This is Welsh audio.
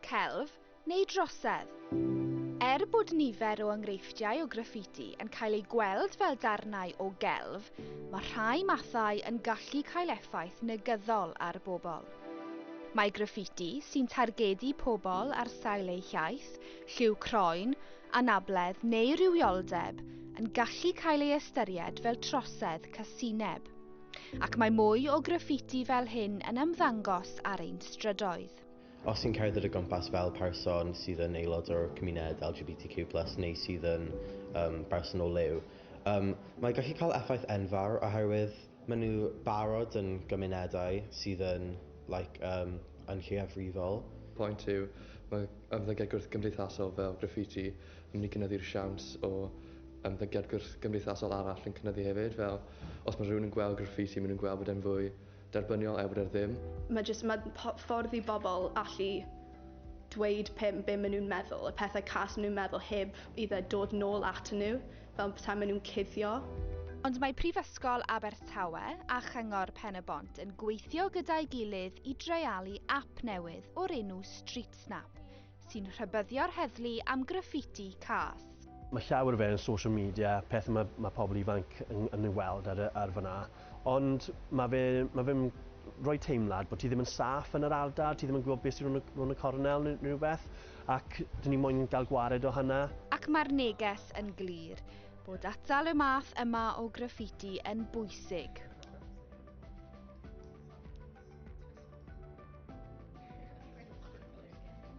celf neu drosedd. Er bod nifer o enghreifftiau o graffiti yn cael eu gweld fel darnau o gelf, mae rhai mathau yn gallu cael effaith negyddol ar bobl. Mae graffiti sy'n targedu pobl ar sail eu hiaith, lliw croen, anabledd neu rywioldeb yn gallu cael ei ystyried fel trosedd casineb, ac mae mwy o graffiti fel hyn yn ymddangos ar ein strydoedd. Cymreictod. Os ti'n cerdded o gwmpas fel person sydd yn aelod o'r cymuned LGBTQ plus neu sydd yn um, berson o liw, um, mae gallu cael effaith enfawr oherwydd maen nhw barod yn gymunedau sydd yn, like, um, yn lleiafrifol. Pwynt yw, mae ymddygiad gwrthgymdeithasol fel graffiti yn mynd i gynyddu'r siawns o ymddygiad gwrthgymdeithasol arall yn cynyddu hefyd, fel os mae rhywun yn gweld graffiti, maen nhw'n gweld bod e'n fwy Derbyniol Ewrr ddim. Mae jyst, mae ffordd i bobl allu dweud pe, be maen nhw'n meddwl, y pethau cas maen nhw'n meddwl heb i fe dod nôl atyn nhw, fel petai maen nhw'n cuddio. Ond mae Prifysgol Abertawe a Chyngor Pen-y-bont yn gweithio gyda'i gilydd i dreialu ap newydd o'r enw StreetSnap, sy'n rhybyddio'r heddlu am graffiti cas. Mae llawer o fe yn social media, peth mae, mae pobl ifanc yn, yn ei weld ar, ar fyna, ond mae fe, mae fe'n rhoi teimlad bod ti ddim yn saff yn yr ardal, ti ddim yn gwybod beth sy'n rhwng y coronel neu rhywbeth, ac dyn ni moyn gael gwared o hynna. Ac mae'r neges yn glir, bod atal y math yma o graffiti yn bwysig.